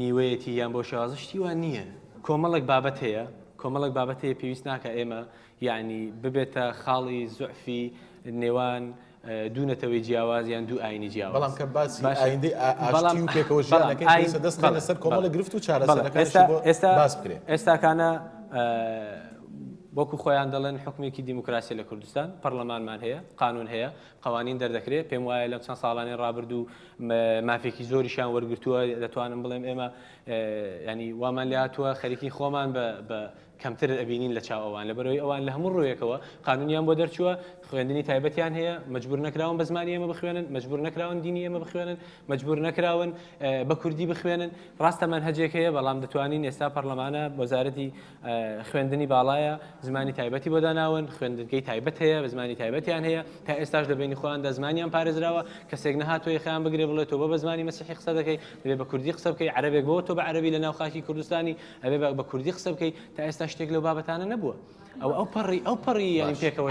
نیوەیەتی یان بۆ شێوازە شتی وان نییە کۆمەڵک بابەت هەیە کۆمەڵک بابەت هەیە پێویست ناکە ئێمە یعنی ببێتە خاڵی زعفی نێوان دوو نەتەوەی جیاواز یان دوو ئاینی جیاواز بەڵام کە باسی ئایندەی ئاشتی و پێکەوە ژیان دەکەین پێویستە دەست بکەین لەسەر کۆمەڵی گرفت و چارەسەرەکانیش بۆ باس بکرێت. ئێستاکانە وەکو خۆیان دەڵێن حوکمێکی دیموکراسییە لە کوردستان، پەڕڵەمانمان هەیە، قانوون هەیە، قەوانین دەردەکرێت، پێم وایە لەم چەند ساڵانەی ڕابردوو مافێکی زۆریشیان وەرگرتووە، دەتوانم بڵێم ئێمە یانی وامان لێهاتووە خەریکی خۆمان بە کەمتر ئەبینین لە چاو ئەوان لەبەرئەوەی ئەوان لە هەموو ڕوویەکەوە قانونیان بۆ دەرچووە، خوێندنی تایبەتیان هەیە، مەجبور نەکراون بە زمانی ئێمە بخوێنن، مەجبور نەکراون دینی ئێمە بخوێنن، مەجبور نەکراون بە کوردی بخوێنن، ڕاستە مەنهەجێک هەیە بەڵام دەتوانین ئێستا پەڕلەمانە وەزارەتی خوێندنی باڵایە زمانی تایبەتی بۆ داناون، خوێندنگەی تایبەت هەیە بە زمانی تایبەتیان هەیە، تا ئێستاش لە بەینی خۆیاندا زمانیان پارێزراوە، کەسێک نەهاتووە یەخەیان بگرێ بڵێ تۆ بۆ بە زمانی مەسیحی قسە دەکەی، دەبێ بە کوردی قسە بکەی، عەرەبێک بۆ تۆ بە عەرەبی لە ناو خاکی کوردستانی، ئەبێ بە بە کوردی قسە بکەی تا ئێستا شتێک لەو بابەتانە نەبووە ئەو ئەو پەڕی ئەو پەڕی یانی پێکەوە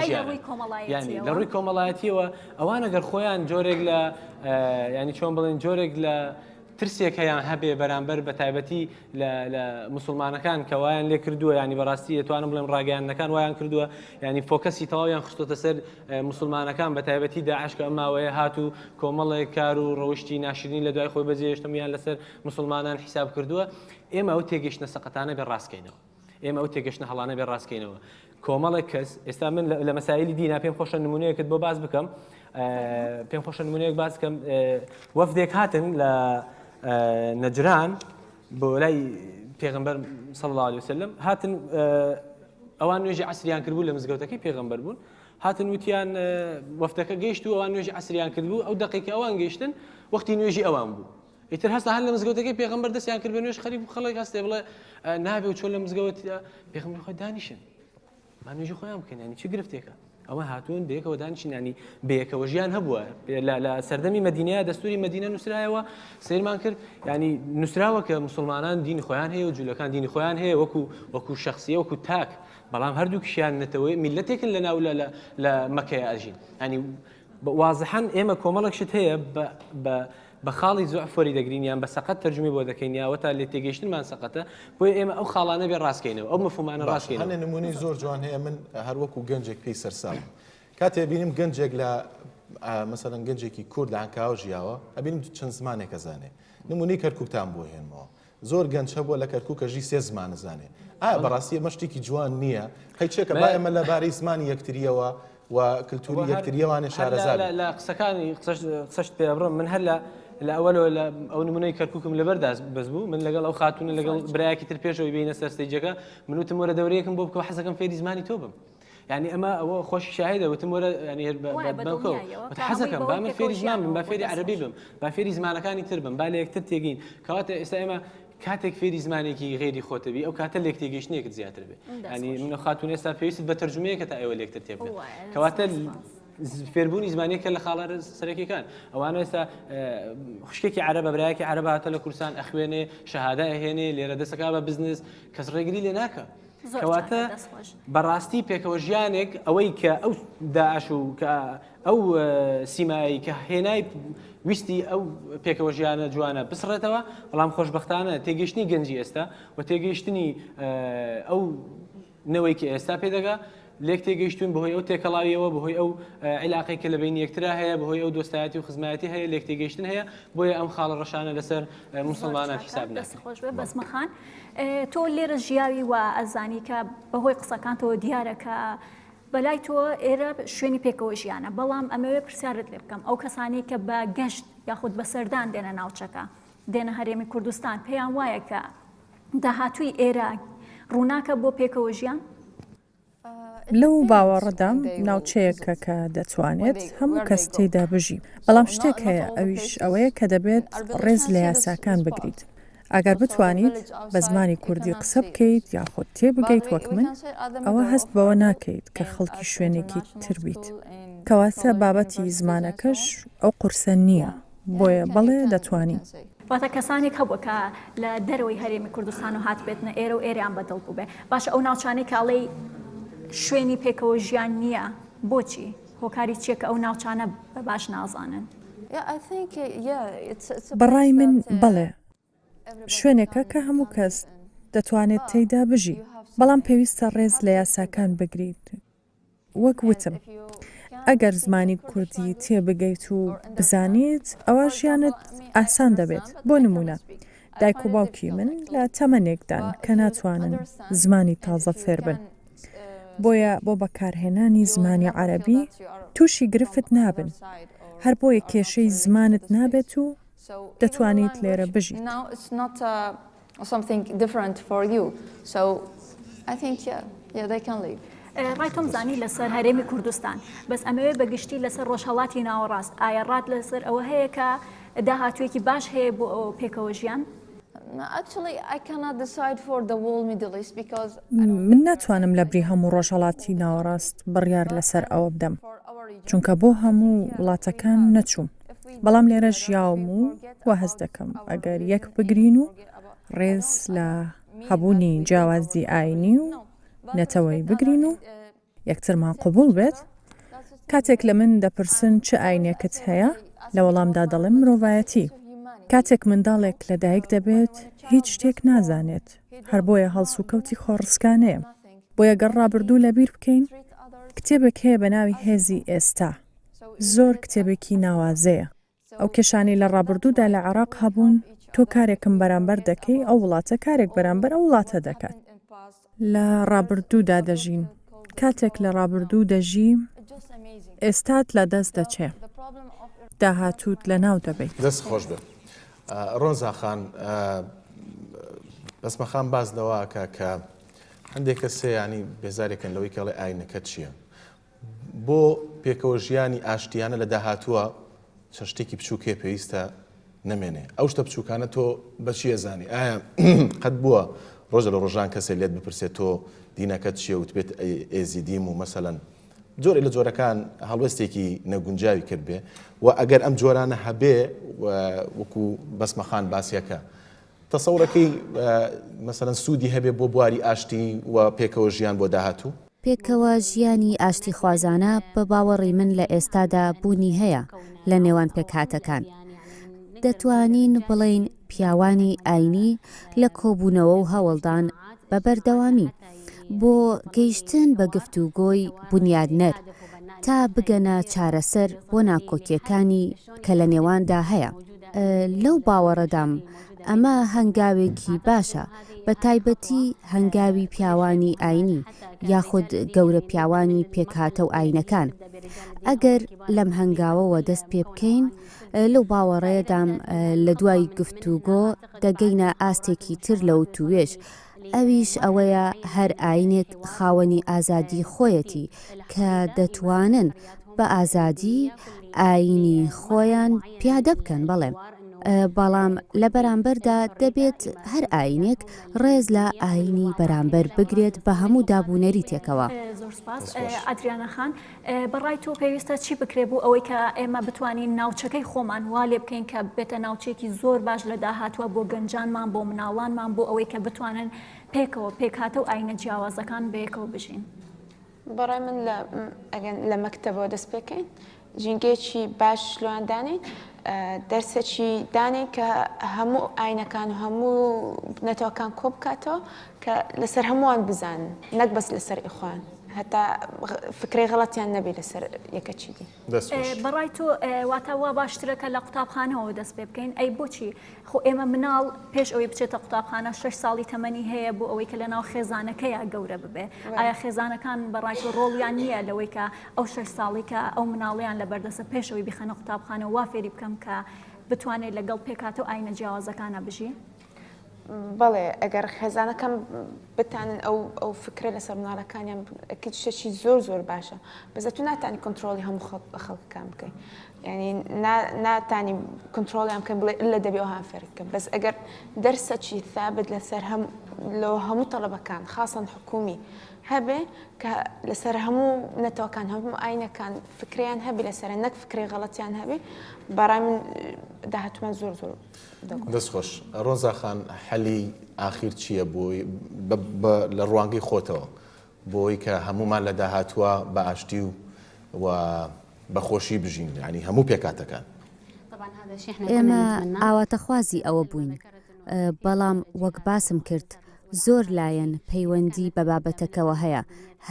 ینی لە ڕووی کۆمەڵایەتیەوە ئەوانە گەر خۆیان جۆرێک لە ینی چۆن بڵێن جۆرێک لە ترسێک هەیان هەبێ بەرامبەر بە تایبەتی لە مسلمانەکان کە وایان لێ کردووە ینی بەڕاستی دەتوانم بڵێم ڕاگەیانەکان وایان کردووە ینی فۆکەسی تەواویان خستۆتە سەر مسلمانەکان بە تایبەتی داعشکە ئەم ماوەیە هات و کۆمەڵێک کار و ڕەوشی ناشرین لە دوای خۆی بەجێشتمیان لەسەر مسلمانان حیساب کردووە ئێمە ئەو تێگەشتنە سەقەتانە بێ ڕاستکەینەوە ئێمە ئەو تێگەشتە هەڵانە بێ ڕاستکەینەوە کۆمەڵێک کەس ئێستا من لە مەسایلی دینا پێم خۆشە نمونەیەکت بۆ باز بکەم پێم خۆشە نمونەیەک باز بکەم وەفدێک هاتن لە نەجران بۆ لای پێغمبەر صلی الله عليه وسلم هاتن ئەوان نوێژی عسریان کردبوو لە مزگەوتەکەی پێغمبەر بوون هاتن وتیان وەفتەکە گەیشت و ئەوان نوێژی عسریان کردبوو ئەو دقیکە ئەوان گەیشتن وەختی نوێژی ئەوان بوو ئیتر هەستا هەر لە مزگەوتەکەی پێغمبەر دەستیان کرد بە نوێش خەریب و خەڵک هەستێ بڵێ نابێ و چۆن لە مزگەوتە پێغمبەر خۆ دانیشن با نوێژی خۆیان بکەن ینی چی گرفتێکە ئەوە هاتوون بەیەکەوە دانیشینانی بەیەکەوە ژیان هەبووە لە سەردەمی مدینەیە دەستوری مدینە نووسرایەوە سیرمان کرد ینی نووسراوە کە مسلمانان دین خۆیان هەیە و جوولەکان دینی خۆیان هەیە وەکو وەکو شخصیە وەکو تاک بەڵام هەردوو کشیان نەتەوەی میلەتێکن لە ناو لە مەکەیە ئەژین ینی وازحەن ئێمە کۆمەڵک شت هەیە بە بە خاڵی زوعف وەری دەگرین یان بە سەقەت تەرجومەی بۆ دەکەین یا ئەوەتا لێ تێگەیشتنمان سەقەتە بۆیە ئێمە ئەو خاڵانە بێ ڕاست کەینەوە ئەو مەفهومانە ڕاست کەینەوە. باشە هەنێ نمونەی زۆر جوان هەیە من هەر وەکو گەنجێک پێی سەرسامم کاتێ ئەبینم گەنجێک لە مەسەلەن گەنجێکی کورد لە عەنکاوە ژیاوە ئەبینم چەند زمانێک ئەزانێ نمونەی کەرکوکتان بۆ هێنمەوە زۆر گەنچ هەبوە لە کەرکوکە ژی سێ زمان زانێ ئایا بەڕاستی ئەمە شتێکی جوان نییە هەی چێکە با ئێمە لە بارەی زمانی یەکتریەوە و کللتوری یەکتریەوانێ شارەزا بین. لە قسەکانی قسەشت پێ ئەبڕم من هەر لە لە ئەوەلەوە لە ئەو نمونەی کەرککم لەبەر داست بەس بوو من لەگەڵ ئەو خاتونە لەگەڵ برایەکی تر پێشەوەی بینە سەرسەیجەکە من وتم وەرە دەورەیەکم بۆ بکەوە حەزەکەم فێری زمانی تۆ بم یعنی ئەمە ئەوە خۆش شاهدە وتم وەرە حەزەکەم با من فێری زمان بم با فێری عربی بم با فێری زمانەکانی تر بم با لە یەکتر تێگەین کەواتە ئێستا ئێمە کاتێک فێری زمانێکی غێری خۆتەبی ئەو کاتە لێک تێگەشتنێکت زیاتر بێ ینی منە خاتون ئێستا پێویست بە تەرجمەیەکە تا ئێوە لێکتر تێ کەواتە فێربوونی زمانێکە لە خاڵە سەرەکیەکان ئەوانە ئێستا خوشکێکی عرە بە برایەکی عرە هاتە لە کورسان ئەخوێنێ شەهادا ئەهێنێ لێرە دەسەکە بە بزنس کەس ڕێگری لێ ناکە کەواتە بەڕاستی پێکەوە ژیانێک ئەوەی کە ئەو داعش و کە ئەو سیمایی کە هێنای ویستی ئەو پێکەوە ژیانە جوانە بسڕێتەوە بەڵام خۆشببختانە تێگەشتنی گەنجی ئێستا و تێگەیشتنی ئەو نەوەی کە ئێستا پێدەگا لێکتێگەیشتوون بەهۆی ئەو تێکەڵاوییەوە، بەهۆی ئەو عیلاقەی کە لە بەینی یەکترا هەیە، بەهۆی ئەو دۆستایەتی و خزمایەتی هەیە، لێکتێگەیشتن هەیە، بۆیە ئەم خاڵە ڕەشانە لەسەر موسڵمانان حیساب ناکرێت. دەست خۆش بێت بەزمە خان. تۆ لێرە ژیاوی و ئەزانی کە بەهۆی قسەکانتەوە دیارە کە بەلای تۆ ئێرە شوێنی پێکەوە ژیانە، بەڵام ئەمەوێ پرسیارت لێ بکەم ئەو کەسانەی کە بە گەشت یاخود بە سەردان دێنە ناوچەکە، دێنە هەرێمی کوردستان پێیان وایە کە داهاتووی ئێرە ڕووناکە بۆ پێکەوە ژیان؟ لەو باوەڕەدام ناوچەیەکە کە دەتوانێت هەموو کەس تێیدا بژی، بەڵام شتێک هەیە ئەویش ئەوەیە کە دەبێت ڕێز لە یاساکان بگریت. ئەگەر بتوانیت بە زمانی کوردی قسە بکەیت یاخود تێبگەیت وەک من، ئەوە هەست بەوە ناکەیت کە خەڵکی شوێنێکی تر بیت. کەواتە بابەتی زمانەکەش ئەو قورسە نییە. بۆیە بەڵێ دەتوانین. واتە کەسانێک هەبووە کە لە دەرەوەی هەرێمی کوردستان و هاتبێتنە ئێرە و ئێریان بەدڵ بووبێ باشە ئەو ناوچانەی کاڵێی شوێنی پێکەوە ژیان نییە بۆچی هۆکاری چیەکە ئەو ناوچانە بە باش نازانن بەڕای من بەڵێ شوێنێکە کە هەموو کەس دەتوانێت تێیدا بژی، بەڵام پێویستە ڕێز لە یاساکان بگریت. وەک وتم، ئەگەر زمانی کوردی تێبگەیت و بزانیت، ئەوا ژیانت ئاسان دەبێت. بۆ نموونە، دایک و باوکی من لە تەمەنێکدان کە ناتوانن زمانی تازە فێربن، بۆیە بۆ بەکارهێنانی زمانی عەرەبی تووشی گرفت نابن، هەر بۆیە کێشەی زمانت نابێت و دەتوانیت لێرە بژیت. ڕای تۆم زانی لەسەر هەرێمی کوردستان، بەس ئەمەوێ بە گشتی لەسەر ڕۆژهەڵاتی ناوەڕاست، ئایا ڕات لەسەر ئەوە هەیە کە داهاتوویەکی باش هەیە بۆ پێکەوە ژیان؟ من ناتوانم لە بری هەموو ڕۆژهەڵاتی ناوەڕاست بڕیار لەسەر ئەوە بدەم، چونکە بۆ هەموو وڵاتەکان نەچووم. بەڵام لێرە ژیاوم و وا هەست دەکەم ئەگەر یەک بگرین و ڕێز لە هەبوونی جیاوازی ئاینی و نەتەوەی بگرین و یەکترمان قوبول بێت کاتێک لە من دەپرسن چ ئاینێکت هەیە لە وەڵامدا دەڵێم مرۆڤایەتی کاتێک منداڵێک لەدایک دەبێت هیچ شتێک نازانێت هەر بۆیە هەڵسوکەوتی خۆڕسکانەیە بۆیە گەڕ ڕابردوو لەبیر بکەین کتێبێک هەیە بە ناوی هێزی ئێستا زۆر کتێبێکی ناوازەیە. ئەو کێشانەی لە ڕابردوودا لە عێراق هەبوون، تۆ کارێکم بەرامبەر دەکەی، ئەو وڵاتە کارێک بەرامبەر ئەو وڵاتە دەکات. لە ڕابردوودا دەژین. کاتێک لە ڕابردوو دەژی، ئێستات لە دەست دەچێ. داهاتووت لە ناو دەبەیت. دەست خۆش بێت ڕۆنزا خان. بەس مەخام باس لەوە ئەکا کە هەندێک کەسێ یانی بێزارێکن لەوەی کە ئەڵێ ئاینەکەت چییە؟ بۆ پێکەوە ژیانی ئاشتیانە لە داهاتووە چەند شتێکی بچووک هەیە پێویستە نەمێنێ ئەو شتە بچووکانە تۆ بەچی ئەزانی ئایا قەت بووە ڕۆژە لە ڕۆژان کەسێ لێت بپرسێت تۆ دینەکەت چیە وتبێت ئێزیدیم و مەسەەن جۆرە لە جۆرەکان هەڵوێستێکی نەگونجاوی کرد بێ و ئەگەر ئەم جۆرانە هەبێ وەکو بەسمەخان باسیەکە تەسەورەکەی مەسەلەن سوودی هەبێ بۆ بواری ئاشتی و پێکەوە ژیان بۆ داهاتوو؟ پێکەوە ژیانی ئاشتیخوازانە بە باوەڕی من لە ئێستادا بوونی هەیە لە نێوان پێکهاتەکان. دەتوانین بڵێین پیاوانی ئاینی لە کۆبوونەوە و هەوڵدان بە بەردەوامی، بۆ گەیشتن بە گفتوگۆی بونیادنەر تا بگەنە چارەسەر بۆ ناکۆکییەکانی کە لە نێواندا هەیە. لەو باوەڕەدام ئەمە هەنگاوێکی باشە، بە تایبەتی هەنگاوی پیاوانی ئاینی یاخود گەورە پیاوانی پێکهاتە و ئاینەکان. ئەگەر لەم هەنگاوەوە دەست پێ بکەین، لەو باوەڕەیەدام لە دوای گفتوگۆ دەگەینە ئاستێکی تر لە وتووێژ، ئەویش ئەوەیە هەر ئاینێک خاوەنی ئازادی خۆیەتی کە دەتوانن بە ئازادی ئاینی خۆیان پیادە بکەن بەڵێ بەڵام لە بەرامبەردا دەبێت هەر ئاینێک ڕێز لە ئاینی بەرامبەر بگرێت بە هەموو دابونەریتێکەوە. زۆر سوپاس ئەدریانە خان. بە ڕای تۆ پێویستە چی بکرێ بوو ئەوەی کە ئێمە بتوانین ناوچەکەی خۆمان وا لێ بکەین کە بێتە ناوچێکی زۆر باش لە داهاتوە بۆ گەنجانمان بۆ مناڵانمان بۆ ئەوەی کە بتوانن پێکەوە پێکهاتە و ئاینە جیاوازەکان بەیەکەوە بژین بەڕای من لە مەکتەبەوە دەست پێکەین ژینگەیەکی باش لۆیاندانین دەرسێکی دانین کە هەموو ئاینەکان و هەموو نەتەوەکان کۆ بکاتەوە کە لەسەر هەمووان بزانن نەک بەس لەسەر ئیخوان هەتا فکرەی غەڵەتیان نەبی لەسەر یەکە چی دی. بەڕای تۆ واتە وا باشترەکە لە قوتابخانەوە دەست پێ بکەین ئەی بۆچی خۆ ئێمە مناڵ پێش ئەوەی بچێتە قوتابخانە شش ساڵی تەمەنی هەیە بۆ ئەوەی کە لە ناو خێزانەکەیە گەورە ببێ ئایا خێزانەکان بەڕای تۆ ڕۆڵیان نییە لەوەی کە ئەو شش ساڵی کە ئەو مناڵیان لە بەردەسە پێشەوەی بخەنە قوتابخانە وا فێری بکەم کە بتوانێت لەگەڵ پێکاتە و ئاینە جیاوازەکانە بژی. بەڵێ ئەگەر خێزانەکەم بتانن ئەو ئەو فکرە لەسەر مناڵەکانیان شتێکی زۆر زۆر باشە بەزە تو ناتانی کنترۆلی هەموو خەڵ بە خەڵکەکان بکەین ینی ناتانی کنترۆلیان بکەن بڵێ لە دەبێ ئەوها فێرکە بەس ئەگەر دەرسەکی ثابت لەسەر هەم لە هەموو تەڵەبەکان خاصن حکومی هەبێ کە لەسەر هەموو نەتەوەکان هەموو ئاینەکان فکریان هەبی لەسەر نەک فکری غەڵەتیان هەبێ بەڕای من داهتمان زۆر زۆر دەست خۆش ڕۆزا خان حەلی ئاخیر چییە بۆی لە ڕوانگەی خۆتەوە بۆی کە هەمومان لە داهاتوە بە ئاشتی و بەخۆشی بژین ینی هەموو پێکاتەکان ئێمە ئاواتەخوازی ئەوە بووین بەڵام وەک باسم کرد زۆر لایەن پەیوەندی بە بابەتەکەوە هەیە،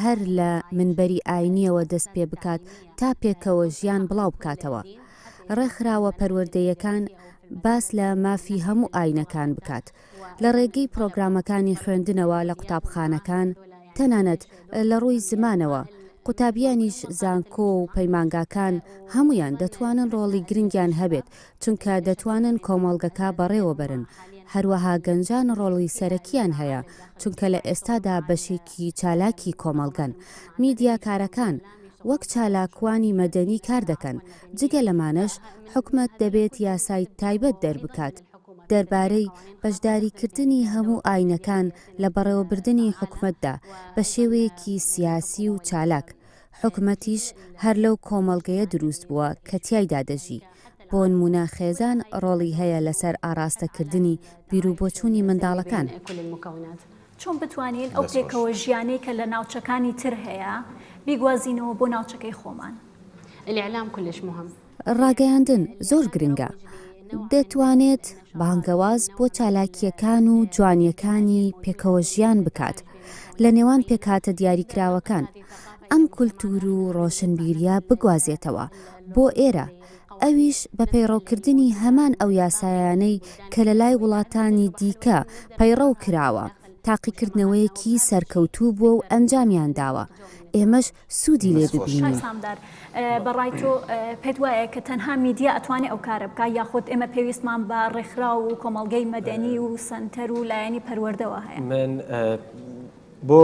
هەر لە منبەری ئاینییەوە دەست پێ بکات تا پێکەوە ژیان بڵاو بکاتەوە. ڕێکخراوە پەروەردەیەکان باس لە مافی هەموو ئاینەکان بکات، لە ڕێگەی پرۆگرامەکانی خوێندنەوە لە قوتابخانەکان، تەنانەت لە ڕووی زمانەوە، قوتابیانیش زانکۆ و پەیمانگاکان هەموویان دەتوانن ڕۆڵی گرنگیان هەبێت چونکە دەتوانن کۆمەڵگەکە بەڕێوەبەرن، هەروەها گەنجان ڕۆڵی سەرەکییان هەیە، چونکە لە ئێستادا بەشێکی چالاکی کۆمەڵگەن. میدیاکارەکان وەک چالاکوانی مەدەنی کار دەکەن، جگە لەمانەش حکومەت دەبێت یاسای تایبەت دەربکات دەربارەی بەشداریکردنی هەموو ئاینەکان لە بەڕێوەبردنی حکومەتدا بە شێوەیەکی سیاسی و چالاک، حکومەتیش هەر لەو کۆمەڵگەیە دروست بووە کە تیایدا دەژی، بۆنمونە خێزان ڕۆڵی هەیە لەسەر ئاڕاستەکردنی بیروبۆچونی منداڵەکان. چۆن بتوانین ئەو پێکەوە ژیانەی کە لە ناوچەکانی تر هەیە بیگوازینەوە بۆ ناوچەکەی خۆمان؟ ڕاگەیاندن زۆر گرنگە، دەتوانێت بانگەواز بۆ چالاکییەکان و جوانییەکانی پێکەوەژیان بکات لە نێوان پێکهاتە دیاریکراوەکان، ئەم کولتوور و ڕۆشنبیرییە بگوازێتەوە بۆ ئێرە، ئەویش بە پەیڕەوکردنی هەمان ئەو یاسایانەی کە لە لای وڵاتانی دیکە پەیڕەو کراوە، تاقیکردنەوەیەکی سەرکەوتوو بووە و ئەنجامیان داوە، ئێمەش سودی لێ ببینین. سامدار بەڕای تۆ پێت وایە کە تەنها میدیا ئەتوانێ ئەو کارە بکا یاخود ئێمە پێویستمان بە ڕێکخراو و کۆمەڵگەی مەدەنی و سەنتەر و لایەنی پەروەردەوە هەیە؟ من بۆ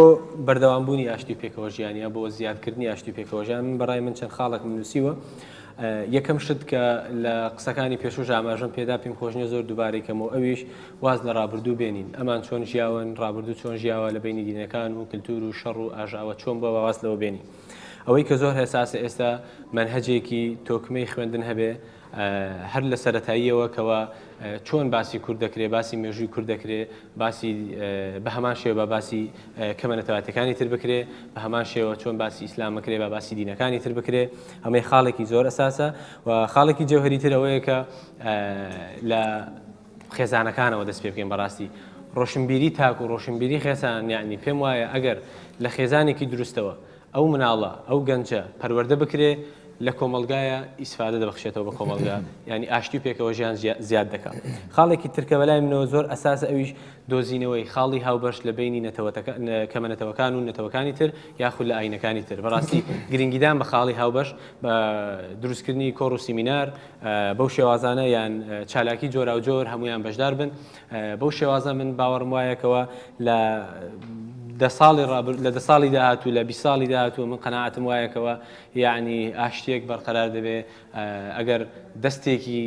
بەردەوامبوونی ئاشتی و پێکەوەژیان یا بۆ زیادکردنی ئاشتی و پێکەوەژیان من بەڕای من چەند خاڵێکم نووسیوە یەکەم شت کە لە قسەکانی پێشوش ئاماژەم پێدا پێم خۆشنیە زۆر دووبارەی کەمەوە ئەویش واز لە ڕابردوو بێنین، ئەمان چۆن ژیاون، ڕابردوو چۆن ژیاوە لە بەینی دینەکان و کلتور و شەڕ و ئاژاوە چۆن بوە با واز لەوە بێنین. ئەوەی کە زۆر هەساسە ئێستا مەنهەجێکی تۆکمەی خوێندن هەبێ هەر لە سەرەتاییەوە کەوا چۆن باسی کورد دەکرێ باسی مێژووی کورد دەکرێ باسی بە هەمان شێوە با باسی کەمە نەتەواتەکانی تر بکرێ بە هەمان شێوە چۆن باسی ئیسلام بکرێ با باسی دینەکانی تر بکرێ ئەمەی خاڵێکی زۆر ئەساسە و خاڵێکی جەوهەری تر ئەوەیە کە لە خێزانەکانەوە دەست پێ بکەین بەڕاستی ڕۆشنبیری تاک و ڕۆشنبیری خێزان یعنی پێم وایە ئەگەر لە خێزانێکی دروستەوە ئەو مناڵە ئەو گەنجە پەروەردە بکرێ لە کۆمەڵگایە ئیسفادە دەبخشێتەوە بە کۆمەڵگا یعنی ئاشتی و پێکەوە ژیان زیاد دەکا خاڵێکی ترکە بەلای منەوە زۆر ئەساسە ئەویش دۆزینەوەی خاڵی هاوبەش لە بینی نەتەوەتەکە کەمە نەتەوەکان و نەتەوەکانی تر یاخود لە ئاینەکانی تر بەڕاستی گرنگیدان بە خاڵی هاوبەش بە دروستکردنی کۆڕ و سیمینار بەو شێوازانە یان چالاکی جۆراوجۆر هەمویان بەشدار بن بەو شێوازە من باوەڕم وایەکەوە لە دە ساڵی ڕابر لە دە ساڵی داهاتوو لە بی ساڵی داهاتوو من قەنەعاتم وایەکەوە یعنی ئاشتێک بەرقەرار دەبێ ئەگەر دەستێکی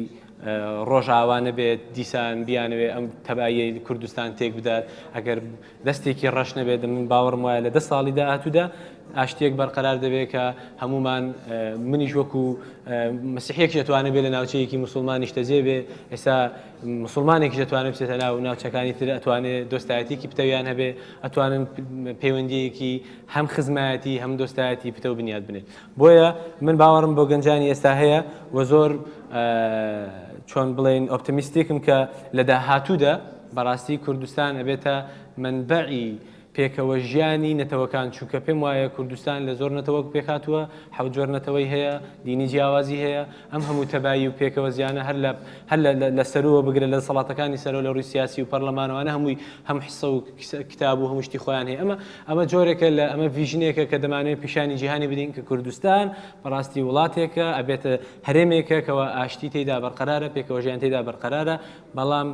ڕۆژاوا نەبێت دیسان بیانەوێ ئەم تەبایی کوردستان تێک بدات ئەگەر دەستێکی ڕەش نەبێت، من باوەڕم وایە لە دە ساڵی داهاتوودا ئاشتییەک بەرقەرار دەبێت کە هەموومان منیش وەکو مسیحێکش ئەتوانێت بێت لە ناوچەیەکی مسلمان نیشتەجێ بێ ئێستا مسلمانێکش ئەتوانێت بچێتە ناو ناوچەکانی تر ئەتوانێت دۆستایەتیکی پتەویان هەبێ ئەتوانن پەیوەندیەکی هەم خزمایەتی هەم دۆستایەتی پتەو بنیاد بنێت بۆیە من باوەڕم بۆ گەنجانی ئێستا هەیە و زۆر چۆن بڵێین ئۆپتمیستیکم کە لە داهاتوودا بەڕاستی کوردستان ئەبێتە منبعی پێکەوە ژیانی نەتەوەکان چووکە پێم وایە کوردستان لە زۆر نەتەوەک پێکاتوە حەوجۆر نەتەوەی هەیە دینی جیاوازی هەیە ئەم هەموو تەبایی و پێکەوە زیانە هەر لە هەر لە لە سەرووەوە بگرە لە دەسەڵاتەکانی سەرەوە لە ڕووی سیاسی و پەرلەمانەوانە هەمووی هەم حسە و کتاب و هەموو شتی خۆیان هەیە ئەمە ئەمە جۆرێکە لە ئەمە ڤیژنێکە کە دەمانوێت پیشانی جیهانی بدەین کە کوردستان بەڕاستی وڵاتێکە ئەبێتە هەرێمێکە کەەوە ئاشتی تێدا بەرقەرارە پێکەوەژیان تێدا بەرقەرارە بەڵام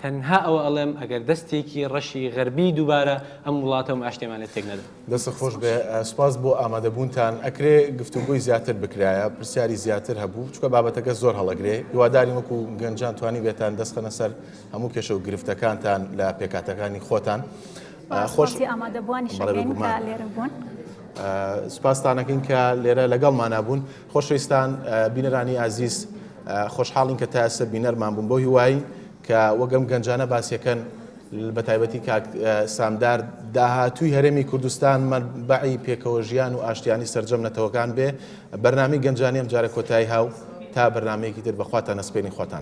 تەنها ئەوە ئەڵێم ئەگەر دەستێکی ڕەشی غەربی دووبارە ئەم وڵاتە و معشتێمان لێ تێک نەدا. دەستت خۆش بێ سوپاس بۆ ئامادەبوونتان ئەکرێ گفتوگۆی زیاتر بکرایە پرسیاری زیاتر هەبوو چکە بابەتەکە زۆر هەڵەگرێ هیوادارین وەکو گەنجان توانی بێتان دەست خەنە سەر هەموو کێشە و گرفتەکانتان لە پێکاتەکانی خۆتان خۆش ئامادەبووانی شەڕێن لێرە بوون. سوپاستانەکەین کە لێرە لەگەڵ مانابوون. خۆشەویستان بینەرانی ئازیز خۆشحاڵین کە تا ئێستا بینەرمان بوون بۆ هیوای کە وەگەم گەنجانە باسیەکەن بە تایبەتی کاک سامدار داهاتووی هەرێمی کوردستان مەربعی پێکەوە ژیان و ئاشتیانی سرجەم نەتەوەکان بێ بەرنامی گەنجانی ئەم جارە کۆتایی هاو تا بەرنمەیەکی تر بەخواتان نەسپێنی خواتان